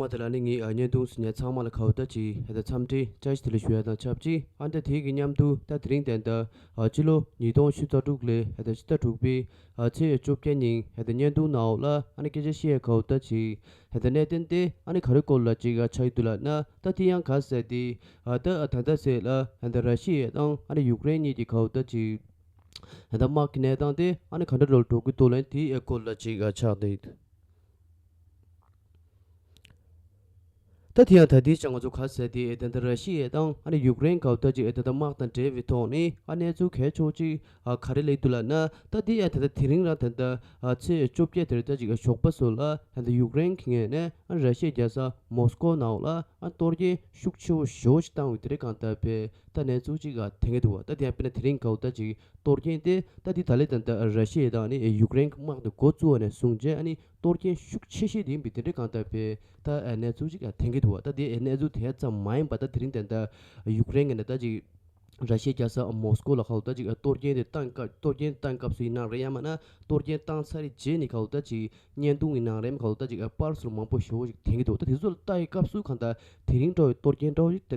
མ་དེ་ལ་ནི་ངས་བརྙན་ཐུང་སུ་ཉར་ཚང་མ་ལ་ཁ་བརྡ་གྱིས་ཧད་ད་འཚམས་འདྲི་བཅར་ཞི་དེ་ལ་ཞུ་བ་དང་ཆབས་ཅིག་ཨ་མདའ་དེའི་གི་མཉམ་དུ་ད་དེ་རིང་དན་ད་ཕྱི་ལོ་ཉིས་སྟོང་བཞི་རྩ་དྲུག་ལས་ཧད་ད་ཕྱི་ཟླ་དྲུག་པའི་ཚེས་བཅོ་བརྒྱད་ཉིན་ཧད་ད་བརྙན་ཐུང་ནའོ་ལ་ཨ་ནི་སྐད་ཆ་བཤད་ཡ་ཁ་བརྡ་གྱིས་ཧད་ད་གནད་དོན་དེ་ཨ་ནི་ག་རེ་སྐོར་ལ་ཅིག་ག་ཆགས་ཡི་འདུག་ལ་ཨ་མདའ་དེ་ཡང་ག་ཟེར་ཏེ་ཨ་ད་ད་ད་ཟེར་ལ་ཧད་ད་ར་ཤི་ཡའི་དང་ཨ་ནི་ཡུཀ་རེན་གཉིས་ཀྱི་ཁ་བརྡ་གྱིས་ཧད་ད་དམག་གི་གནས་སྟངས་དེ་ཨ་ནི་ག་འདྲ་འགྲོ་ལ་འགྲོ་གི་འདུག་ལན་དེའི་སྐོར་ལ་ཅིག་ག་ཆགས་ཏེ། ད་དེ་ཡང་ད་ལྟའི་ཆར་ང་ཚོ་ག་ཚད་དེ་ཨེ་ད་ད་ར་ཤི་ཡའི་དང་ཨ་ནི་ཡུག་རེན་གའུ་ད་ཅིག་ཨེ་ད་ད་དམག་དང་འབྲེལ་བའི་ཐོག་ནས་ཨ་གནས་ཚུལ་གས་ཆོག་ཅིག་ཨ་ག་རེ་ལེགས་འདུག་ལགས་ན་ད་དེ་ཡང་ད་ད་དེ་རིང་རང་ད་ད་ཨ་ཚེས་བཅོ་བརྒྱད་དེར་ད་ཅིག་ཨ་ཞོགས་པ་སོ་ལ་ཡང་ད་ཡུག་རེན་གི་ངས་ནས་ཨ་ར་ཤི་ཡའི་རྒྱལ་ས་མོ་སི་ཀོ་ནའོ་ལ་ཨ་གཏོར་རྒྱན་ཤུགས་ཆེ་བོ་ཞོ་ཞིག་བཏང་བའི་དེ་རེ་གང་ད་པས་ད་གནས་ཚུལ་ཅིག་ཨ་དེ་ངས་འདུག་བ་ད་དེ་ཡང་དཔེར་ན་དེ་རིང་གའུ་ད་ཅིག་གཏོར་རྒྱན་དེ་ད་དེ་ད་ལེ་ད་ད་ཨ་ར་ཤི་ཡའི་དང་ཨ་ནི་ཡུག་རེན་གི་དམག་དེ་འགོ་བཙུགས་ཨ་ནས་བཟུང་རྗེས་ཨ་ནི་གཏོར་སྐྱོན་ཤུགས་ཆེ་ཤོས་ཡིན་པའི་དེ་འབྲེལ་གང་ལྟར་བལྟ་ཨེ་གནས་ཚུལ་གཅིག་ཐེངས་གིས་འདུག་ད་དེ་ཨེ་གནས་ཚུལ་དེ་ཙམ་མ་ཡིན་པ་ད་དེ་རིང་དེ་འདྲ་ཡུཀ་རེན་གྱི་ནས་ད་ཅིག་ར་ཤི་ཡའི་རྒྱལ་ས་མོ་སི་ཀོ་ལ་ཁ་ལོ་ད་ཅིག་གཏོར་སྐྱོན་དེ་བཏང་སྐབས་གཏོར་སྐྱོན་བཏང་སྐབས་སུ་ཡིན་ནང་རེད་ཡང་མ་ན་གཏོར་སྐྱོན་བཏང་ཚར་རྗེས་ནས་ཁ་ལོ་ད་ཅིག་བརྙན་ཐུང་གི་ནང་རེམ་ཁ་ལོ་ད་ཅིག་པར་སོར་མང་པོ་ཞོ་བོ་ཞིག་ཐེངས་གིས་འདུག་ད་དེ་ཚོ་ལ་བལྟ་ཡི་སྐབས་སུ་གང་ལྟར་དེ་རིང་འགྲོ་བའི་གཏོར་སྐྱོན་འདྲ་བོ་ཞིག་དེ་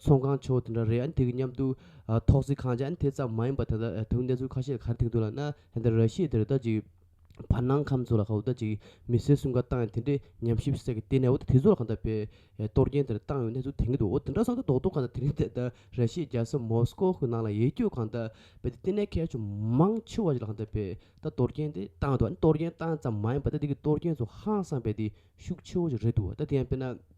ཚོང་ཁང་ཆེ་བོ་དེ་འདྲ་རེད་ཨང་དེ་གི་མཉམ་དུ་ཐོག་བརྩེགས་ཁང་ཅིག་ཨང་དེ་ཙམ་མ་ཡིན་པ་དེ་འདྲ་དེ་གཉིས་གནས་ཚུལ་ཁ་ཤས་གར་ཐིག་འདུག་ལ་ན་དེ་འདྲ་ར་ཤི་དེ་རེད་ད་ཅིག་བར་སྣང་ཁམས་ཚོ་ལ་ཁ་འུ་ད་ཅིག་མི་སེར་གསུམ་ཀ་བཏང་ཡང་དེ་འདྲའི་ཉམས་ཞིབ་སེ་གི་དེ་ནས་འུ་ད་དེ་ཚོ་ལ་གང་འདྲ་བའི་གཏོར་རྒྱན་དེ་འདྲ་བཏང་ཡོད་གནས་ཚུལ་དེང་གི་འདུག་འོ་དེ་འདྲ་སང་ད་རྡོག་རྡོག་གང་འདྲ་དེ་རིང་དེ་ད་ར་ཤི་རྒྱལ་ས་མོ་སི་ཀོ་གི་ནང་ལ་ཡེ་སྐྱོད་གང་འདྲ་བས་དེ་ལྟེ་གནས་ཁལ་ཆུ་མང་ཆེ་བ་ཞིག་ལ་གང་འདྲ་བས་ད་གཏོར་རྒྱན་དེ་བཏང་འདུག་ཨ་ནི་གཏོར་རྒྱན་བཏང་ཙམ་མ་ཡིན་པ་ད་དེ་གི་གཏོར་རྒྱན་ཚོ་ཧང་སངས་པས་དེ་ཤུགས་ཆེ་བོ་ཞིག་རེད་འདུག་ད་དེ་ཡང་དཔེར་ན།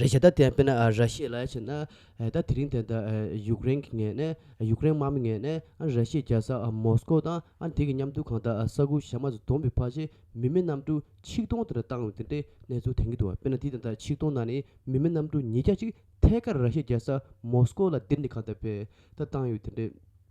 རེད་བྱས་ད་དེ་དཔེར་ན་ར་ཤི་ཡས་ལ་ཡ་བྱས་ན་ད་དེ་རིང་དེ་ད་ཡུག་རེན་གི་ངས་ནས་ཡུག་རེན་དམག་མི་ངས་ནས་ཨ་ར་ཤི་ཡས་རྒྱལ་ས་མོ་སི་ཀོ་དང་ཨ་དེ་གི་མཉམ་དུ་གང་ད་ས་གུ་ཞབས་མ་ཟི་དོམ་བི་ཕ་ཤི་མི་མི་རྣམ་དྲུག་ཆིག་སྟོང་དེ་ར་བཏང་བའི་དེ་འདྲའི་གནས་ཚུལ་དེང་གི་འདུག་བ་དཔེར་ན་དེ་དེ་ད་ཆིག་སྟོང་ནང་ནས་མི་མི་རྣམ་དྲུག་ཉིས་བརྒྱ་ཅིག་ཐད་ཀར་ར་ཤི་ཡས་རྒྱལ་ས་མོ་སི་ཀོ་ལ་འདིར་ནས་གང་ད་བེད་ད་བཏང་ཡོད་དེ་འདྲའི།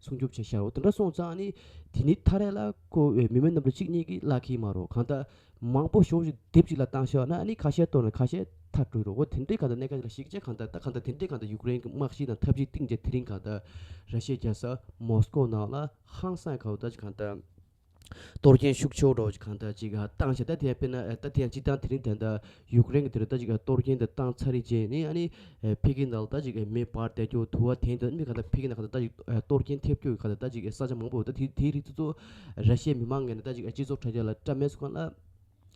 སྲུང་སྐྱོབ་བྱེད་ཤར་བ་དེ་འདྲ་སོང་ཙང་ནི་དེ་ནི་ཐ་རད་ལ་ཁོ་བོས་མི་མེད་རྣམས་ལ་གཅིག་གཉིས་ཀྱིས་གླགས་ཁེལ་མ་རོགས་གང་ལྟར་མང་པོ་ཞོགས་ཞིག་དེབ་ཅིག་ལ་བཏང་ཤར་བ་ན་ནི་ཁ་ཤས་གཏོར་ནས་ཁ་ཤས་མཐར་སྤྲོད་རོགས་དེ་འདྲའི་གང་ལྟར་གནད་ཀ་དེ་ལ་ཞིག་བྱས་གང་ལྟར་ད་གང་ལྟར་དེ་འདྲའི་གང་ལྟར་ཡུཀ་རེན་གྱི་དམག་གཞི་དང་ཐབས་ཇུས་གཏིང་བརྗེད་དེ་རིང་གང་ལྟར་ར་ཤི་ཡའི་རྒྱལ་ས་མོ་སི་ཀོ་ནང་ལ་ཧང་སངས་ཁ་བ་ལྟར་གྱི་གང་ལྟར་གཏོར་སྐྱོན་ཤུགས་ཆེ་བ་སྒྲོག་གིས་གང་ལྟར་ཅིག་བཏང་བྱས་ད་ཐེངས་དཔེར་ན་ད་ཐེངས་གཅིག་བཏང་དེ་རིང་ད་ལྟ་ཡུཀ་རེན་གྱི་དེ་རུ་ད་ཅིག་གཏོར་སྐྱོན་འདི་བཏང་ཚར་རིང་རྗེས་ནས་ཨ་ནི་ཕེ་གི་ནང་ལ་ད་ཅིག་མེ་སྦར་བསྡད་རྒྱུ་དུ་བ་དེང་དུས་མི་གང་ད་ཕེ་གི་ནང་གང་ད་ད་ཅིག་གཏོར་སྐྱོན་ཐེབས་རྒྱུ་གང་ད་ད་ཅིག་ས་ཆ་མང་པོ་ཡོད་ད་དེ་དེའི་རིགས་དེ་ཚོ་ར་ཤའི་མི་མང་ངན་ད་ཅིག་སྤྱི་ཚོགས་དྲ་རྒྱ་ལ་སྐྲ་མེད་སུ་གང་ལ།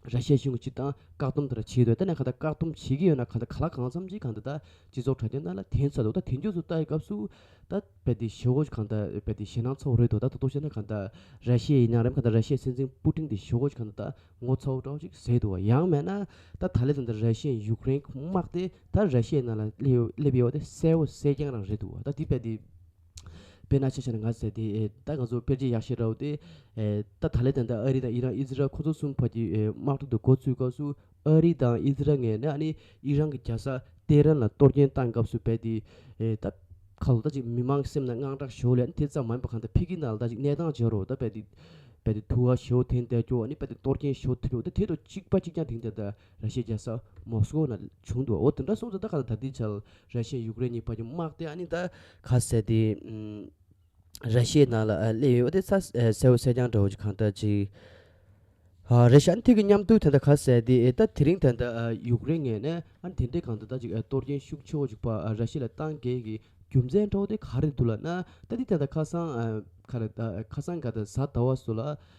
ར་ཤའི་གཞུང་གཅིག་དང་བཀག་སྡོམ་དེར་བྱེད་འདོད་དེ་ནས་གང་ལྟར་བཀག་སྡོམ་བྱེད་ཀྱི་ཡོད་ན་གང་ལྟར་ག་ལ་གང་འཚམ་གྱིས་གང་འདི་ལྟར་སྤྱི་ཚོགས་དྲ་རྒྱ་ནང་ལ་དེའི་ཚ་དོག་དང་དེ་མགྱོགས་སུ་ལྟ་བའི་སྐབས་སུ་ད་རྦད་དེ་ཞི་བོ་གང་ལྟར་རྦད་དེ་ཞེད་སྣང་ཚོགས་རེད་དོ་ད་ཐུག་ཐུག་བྱས་ན་གང་ལྟར་ར་ཤའི་ཡིན་ཡང་རེད་གང་ལྟར་ར་ཤའི་སྲིད་འཛིན་པུ་ཏིང་དེ་ཞི་བོ་གང་ལྟར་ངོ་ཚ་བོ་འདྲ་བོ་ཅིག་ཟེར་འདུག་བ་ཡང་མེད་ན་ད་ད་ལེ་ཙམ་དུ་ར་ཤའི་ཡུག་རེན་དམག་དེ་ད་ར་ཤའི་ནང་ལ་སླེབས་ཡོད་པ་དེ་གསལ་བོ་གསལ་རྐྱང་རང་རེད་འདུག་བ་ད་འདི་རྦད་དེ། དཔེར་ན་ཆེས་ཆེར་ང་ཟེར་ཏེ། ད་ང་ཚོ་དཔེར་བརྗེ་ཡག་ཤེས་རོགས། ད་ད་ལའི་དང་ཐད་ཨ་རི་དང་ཨི་རན་ཨི་ཛི་རལ་ཁོ་ཚོ་གསུམ་བར་གྱི་དམག་གྲོས་དུ་འགོ་ཚུགས་སྐབས་སུ། ཨ་རི་དང་ཨི་ཛི་རལ་ངས་ནས་ཨ་ནི་ཨི་རན་གྱི་རྒྱལ་ས་ཏེ་རན་ལ་གཏོར་སྐྱོན་བཏང་སྐབས་སུ་བས་ཏེ། ད་ཁ་ལོ་ད་ཅིག་མི་མང་སེམས་ན་དངངས་སྐྲག་ཞོར་ལས་ཨ་ནི་དེ་ཙམ་མ་ཡིན་པ་གང་ལྟར་ཕི་གི་ནང་ལ་ད་ཅིག་གནས་སྟངས་བྱེད་རོགས་ད་བས་ཏེ། བས་ཏེ་ཐུ་བ་ཞོ་ཐེན་བསྡད་སྐྱོ་ཨ་ནི་བས་ཏེ་གཏོར་སྐྱོན་ཞོ་ཐེ་རོགས་ད་དེ་ཐོག་གཅིག་པ་གཅིག་རྐྱང་དེང་དེ་ད། ར་ཤི་ཡར་ས་མོ་སི་ཀོ་ན་བྱུང་འདུག་འོ་དེ་འདྲ་སོང་ཚེ་ད་ག་ལ་ད་ལྟའི་ཆར་ར་ཤི་ཡས་ཡུག་རེན་གཉིས་བར་གྱི་དམག་དེ་ཨ་ནི་ད་ག་ཟེར་ཏེ་ར་ཤི་ཡའི་ནང་ལ་སླེབས་ཡོད་དེ་ས་སེར་བོ་སེར་རྐྱང་འདྲ་བོ་ཅིག་གང་ལྟར་ཅིག་ཨ་ར་ཤི་ཨ་ནི་ཐེ་གི་མཉམ་འདུག་དེ་འདྲ་ག་ཟེར་ཏེ་ད་དེ་རིང་དེ་འདྲ་ཡུག་རེན་ངས་ནས་ཨ་ནི་དེ་འདྲས་གང་ད་ལྟ་ཅིག་གཏོར་རྐྱེན་ཤུགས་ཆེ་བོ་ཅིག་པ་ར་ཤི་ལ་བཏང་རྐྱེན་གྱི་རྒྱུ་མཚན་འཕྲོག་དེ་ག་རེ་འདུག་ལ་ན་ད་ལྟའི་དེ་ད་ཁ་སང་ག་རེ་ཁ་སང་ག་ད་གཟའ་ཟླ་བ་སུ་ལ་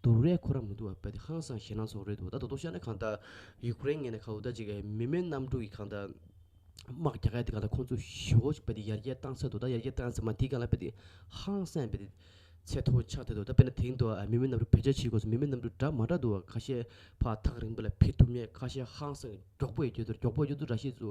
དུ་རས་ཁོ་ར་མི་འདུག་བ་པད་ཁང་བཟང་ཞེ་སྣང་སོགས་རེད་འདུག་ད་ད་དུང་ཤར་ནས་གང་ལྟར་ཡུ་ཀེ་རེན་ངན་ནས་ཁ་འུ་ད་ཅིག་མི་མེད་གནམ་གྲུ་ཡི་གང་ལྟར་དམག་རྒྱག་ག་དེ་གང་ལྟར་ཁོང་ཚོ་ཞི་བོ་ཞིག་བ་དེ་ཡར་རྒྱས་བཏང་ས་འདུག་ད་ཡར་རྒྱས་བཏང་ས་མ་དེ་གང་ལ་བ་དེ་ཧང་སངས་བ་དེ་ཚད་མཐོ་ཆགས་བསྡད་འདུག་ད་བས་ན་དེང་དུ་མི་མེད་གནམ་གྲུ་བེད་སྤྱད་བྱེད་དགོས་སུ་མི་མེད་གནམ་གྲུ་འདྲ་མ་འདྲ་འདུག་བ་ཁ་ཤས་ཕག་ཐག་རིང་བ་ལ་ཕེབས་ཐུབ་མེད་ཁ་ཤས་ཧང་སངས་མགྱོགས་པོ་ཡི་རྒྱུ་དུར་མགྱོགས་པོ་ཡི་རྒྱུ་དུར་ར་ཤེས་སུ་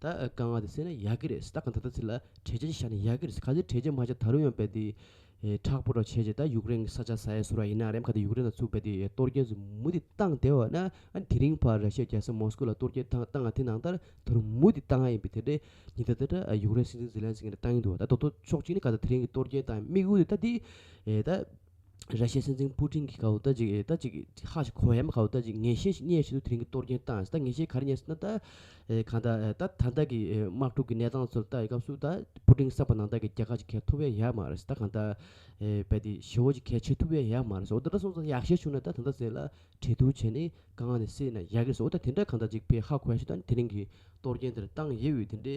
ད་ག་ང་དེ་སེ་ན་ཡག་གི་རེད་སྟ་ག་ད་ད་ཚི་ལ་དྲེ་ཆེ་ཤ་ན་ཡག་གི་རེད་ག་ཚི་དྲེ་ཆེ་མ་ཤ་ད་རུ་ཡང་བེ་དེ་ཁྲག་པོ་ར་ཆེ་ཆེ་ད་ཡུག་རེན་གི་ས་ཆ་ས་ཡ་སུ་ར་ཡིན་ན་རེམ་ག་དེ་ཡུག་རེན་ད་ཚུག་བེ་དེ་གཏོར་རྒྱན་ཚུ་མུ་དེ་གཏང་དེ་བ་ན་དེ་རིང་བར་ར་ཤེ་རྒྱ་ས་མོ་སྐུ་ལ་གཏོར་རྒྱན་ཐང་གཏང་ང་དེ་ནང་ད་ད་རུ་མུ་དེ་གཏང་ང་ཡིན་བེ་དེ་དྲེ་ཉི་ད་ད་ད་ཡུག་རེན་སི་ཛི་ཛི་ལན་སི་ང་ད་གཏང་གི་འདུག་བ་ད་ད་ཏོ་ཆོག་ཅིག་ནི་ག་ད་དེ་རིང་གི་གཏོར་རྒྱན་དང་དམིགས་ཡུལ་དེ་ད་དེ་ད། ར་ཤའི་སེམས་ཅན་སྤུ་ཀྲིང་གི་ཁའུ་ད་ཅིག་ད་ཅིག་ཧ་ཤི་ཁོ་ཧེ་མ་ཁའུ་ད་ཅིག་ངེས་ཤེས་རྙེད་བཞིན་དུ་དེ་རིང་གི་གཏོར་སྐྱོན་བཏང་ད་ངེས་ཤེས་ག་རེ་རྙེད་ཟེར་ན་ད་གང་ད་ད་ད་ལྟ་གི་དམག་འཁྲུག་གི་གནས་སྟངས་ཚོར་ལྟ་ཡི་སྐབས་སུ་ད་སྤུ་ཀྲིང་བསགས་པ་ནང་ད་གི་རྒྱ་གར་གྱི་གས་ཐུབ་བས་ཡག་མ་རེད་ད་གང་ད་བལ་དེ་ཞི་བོ་གྱི་གས་ཆེ་ཐུབ་བས་ཡག་མ་རེད་འོ་ད་ད་སོང་ཙང་ཡག་ཤས་བྱུང་ན་ད་ད་ད་ཟེར་ལ་དྲན་ཐུ་བྱས་ནས་ག་ང་ནས་སེ་ན་ཡག་གི་རེད་ཟེར་འོ་ད་དེ་འདྲ་གང་ད་ཅིག་བལ་ཧ་ཁོ་ཧེ་ཤི་ད་དེ་རིང་གི་གཏོར་སྐྱོན་དེར་བཏང་ཡེ་འོས་དེ་འདྲའི་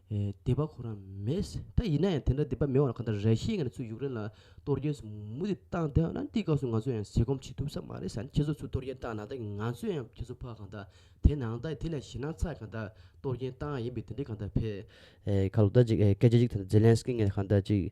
སྡེ་པ་ཁོ་རང་མེད། ད་ཡིན་ན་ཡང་དེ་འདྲ་སྡེ་པ་མེད་བར་གང་ལྟར་ར་ཤི་ཡའི་ངང་ཚུལ་ཡུཀ་རེན་ལ་གཏོར་སྐྱོན་ཟུ་མུ་ཏིག་བཏང་དེ་ཨན་ཏི་ཀ་སུ་ང་ཚོ་ཡང་ཟས་སྐོམ་བྱེད་ཐུབ་ས་མ་རེད་ས་ནི་ཁྱེད་ཚོ་ཚུལ་གཏོར་སྐྱོན་བཏང་ན་ད་ཀྱི་ང་ཚོས་ཡང་ཁྱེད་ཚོ་ཕ་གང་ལྟར་དེ་ནང་ད་དེ་ལས་ཞི་ན་ཚ་གང་ལྟར་གཏོར་སྐྱོན་བཏང་ཡིན་པས་དེ་འདྲའི་གང་ལྟར་ཕེ། ཁ་ལོ་ད་ཅིག་སྐད་ཆ་ཅིག་དེ་ནི་ཛེ་ལན་སི་ཀི་ངས་གང་ལྟར་ཅིག།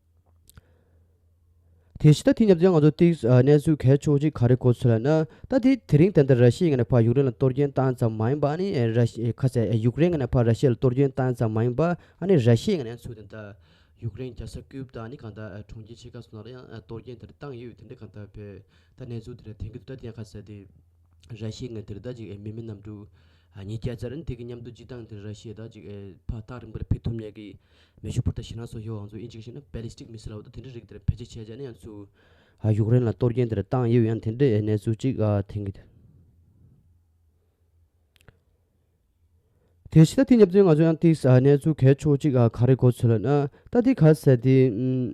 དེ་ཕྱི་ཟླ་དེ་ཉམས་ཚེ་ང་ཚོ་སྟེ་གནས་ཚུལ་གལ་ཆུང་གཅིག་ག་རེ་གོ་ཚོད་ལ་ན་ད་དེ་དེ་རིང་དེ་འདྲ་ར་ཤི་ཡི་ང་ནས་ཕར་ཡུག་རེན་ལ་གཏོར་སྐྱོན་བཏང་ཙམ་མ་ཡིན་པ་ཨ་ནི་ར་ཤི་ཁ་ཟེ་ཡུག་རེན་ང་ནས་ཕར་ར་ཤི་ལ་གཏོར་སྐྱོན་བཏང་ཙམ་མ་ཡིན་པ་ཨ་ནི་ར་ཤི་ཡི་ང་ནས་ཚུད་དེ་འདྲ་ཡུག་རེན་རྒྱ་ས་ཀུའུ་བ་དང་ཨ་ནི་གང་དག་གྲོང་ཁྱེར་ཆེ་ཁག་སུ་ན་ར་ཡང་གཏོར་སྐྱོན་དེ་འདྲ་བཏང་ཡོད་དེ་འདྲ་གང་དག་བོད་ད་གནས་ཚུལ་དེ་འདྲ་དེང་གི་དུས་ད་དེ་ཡང་ཁ་ཟེ་དེ། ར་ཤེས་ངས་དེར་ད་ཅིག་མི་མི་རྣམས་འདུག། ཉིས་བརྒྱ་ཅར་དེ་གི་མཉམ་དུ་སྤྱི་བཏང་དེར་ར་ཤེས་ད་ཅིག་ཕ་སྟག་རིང་པོར་ཕེབས་ཐུབ་ཉེ་གི། མེ་ཤུག་པོར་ད་ཤི་ནག་སོགས་ཡོ་ཨང་ཚོ་ཨིན་ཅིག་ཤི་ན Ballistic Missile ཨོ་ད་དེ་འདྲ་རིགས་དེར་བེད་སྤྱད་བྱས་བྱས་ན་ཡང་ཚུགས། ཡུཀ་རེན་ལ་གཏོར་རྒྱན་དེར་བཏང་ཡོད་ཡང་དེ་འདྲའི་གནས་ཚུལ་ཅིག་ཐེང་གི་འདུག། དེ་ཤི་ད་དེ་ཉབ་ཚོད་ང་ཚོ་ཡང་ཏིག་གནས་ཚུལ་གས་ཆོག་ཅིག་ག་རེ་གོ་ཚོད་ལ་ན་ད་དེ་ག་ཟེར་དེ།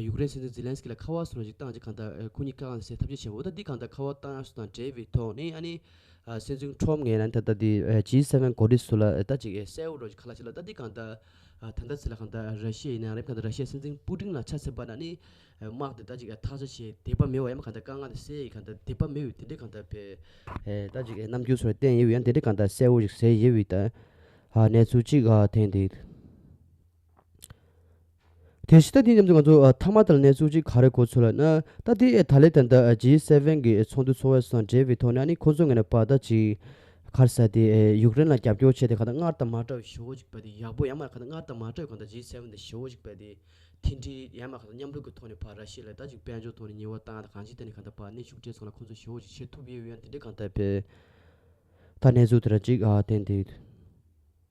ཡུཀ་རེན་སྲིད་འཛིན་ཛི་ལན་སི་ཀི་ལ་ཁ་བ་སོ་ནས་ཅིག་བཏང་རྗེས་གང་ལྟར་ཁོ་གཉིས་ཀ་གང་ཟེར་ཐབས་ཤེས་བྱས་འོ་ད་འདི་གང་ལྟར་ཁ་བ་བཏང་ཡག་སུ་དང་བྲལ་བའི་ཐོག་ནས་ཨ་ནི་སྲིད་འཛིན་ཁྲོམ་ངས་ན་ད་ལྟ་འདི་ཇི་སྲིད་བོན་གོ་ལི་སུ་ལ་ད་ཅིག་གསལ་བོ་རོགས་ཀྱི་ཁ་ལ་བྱས་ལ་ད་འདི་གང་ལྟར་ད་ལྟ་ཟེར་ལ་གང་ལྟར་ར་ཤི་ཡའི་ནང་རེབ་གང་ལྟར་ར་ཤི་ཡའི་སྲིད་འཛིན་སྤུ་ཀྲིང་ལ་ཆ་ཚད་པ་ན་ནི་དམག་དེ་ད་ཅིག་ཐག་ཆ་ཆེ་དད་པ་མེད་བ་ཡང་མ་གང་ལྟར་དཀའ་ངལ་དེ་སེལ་ཡས་གང་ལྟར་དད་པ་མེད་འོས་དེ་འདྲས་གང་ལྟར་བས་ད་ཅིག་ནམ་རྒྱུན་སོ་ལ་བསྟན་ཡས་འོས་ཡང་དེ་འདྲས་གང་ལྟར་གསལ་བོ་ཞིག་ཟེར་ཡས་འོས་ད་གནས་ཚུལ་ཅིག་ཐེངས་འདིའི། དེ་ཕྱི་ཟླ་འདིའི་མཉམ་དུ་ང་ཚོ་ཐ་མ་དང་གནས་ཚུལ་གཅིག་ག་རེ་གོ་ཚོད་ལ་ན་ད་ལྟའི་ད་ལེ་དང་ད་ཇི་སེ་བྷན་གྱི་ཚོགས་འདུ་འཚོགས་བས་སང་འབྲེལ་བའི་ཐོག་ནས་ནི་ཁོ་ཚོ་ངེས་ན་པ་ད་ཅི་གར་ས་དེ་ཡུག་རེན་ལ་རྒྱབ་སྐྱོར་བྱས་ཏེ་ག་ད་སྔར་དང་མ་འདྲ་བའི་ཞོ་ཞིག་པ་དེ་ཡག་པོ་ཡང་མ་ག་ད་སྔར་དང་མ་འདྲ་བའི་གང་ད་ཇི་སེ་བྷན་དེ་ཞོ་ཞིག་པ་དེ་མཐིལ་འདྲིལ་ཡང་མ་ག་ད་མཉམ་རུབ་ཀྱི་ཐོག་ནས་པ་ར་ཤི་ལ་ད་ཅིག་དཔལ་འབྱོར་ཐོག་ནས་ཉེ་བ་དང་ད་གང་ཅིག་ད་ནི་ག་ད་པ་ནི་ཞུགས་འབྲས་ཚང་ལ་ཁོ་ཚོ་ཞོ་ཞིག་བྱེད་ཐུབ་ཡོད་ཡོད་ཡང་དེ་འདྲའི་གང་ད་པའི་ད་གནས་ཚུལ་དེ་ར་ཅིག་བསྟན་དེ།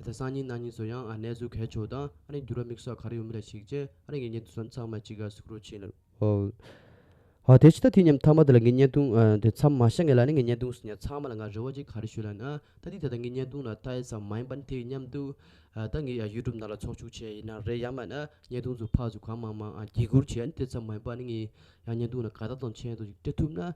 ཨ་སང་ཉིན་ནང་ཉིན་སུ་ཡང་ཨ་གནས་ཚུལ་གལ་ཆོག་དང་ཨ་རིང་འགྱུར་བ་མིག་སོགས་ག་རེ་ཡོད་མི་རེ་ཞིག་བྱས་ཨ་རིང་གི་བརྙན་ཐུང་སོགས་མཚམས་མ་ཅི་ག་གཟིགས་རོགས་བྱིན། ཨོའོ། དེ་ཅི་ད་དུས་མཉམ་ཐ་མ་དེ་ལ་ངའི་བརྙན་ཐུང་དེ་མཚམས་མ་ཤ་ངེས་ལ་ནི་ངའི་བརྙན་ཐུང་སུ་ཉར་ཚང་མ་ལ་ང་རེ་བ་ཅིག་ག་རེ་ཞུ་ལ་ན་ད་དུས་ད་ད་ངའི་བརྙན་ཐུང་ལ་ལྟ་ཡི་ས་མ་ཡིན་པ་ནི་དེ་ཡི་མཉམ་དུ་ད་ངའི་ཡུ་ཏུབ་ནང་ལ་ཚོགས་ཆུག་བྱས་ཡི་ན་རེད་ཡ་མ་ན་བརྙན་ཐུང་ཚུ་ཕག་ཚུ་གང་མང་མང་འགྱིག་སྒུར་བྱས་ཨ་ནི་དེ་ཙམ་མ་ཡིན་པ་ནི་ངའི་ཡང་བརྙན་ཐུང་ལ་ག་ད་དང་མཆན་དུ་ཅིག་སྤྲད་ཐུབ་ན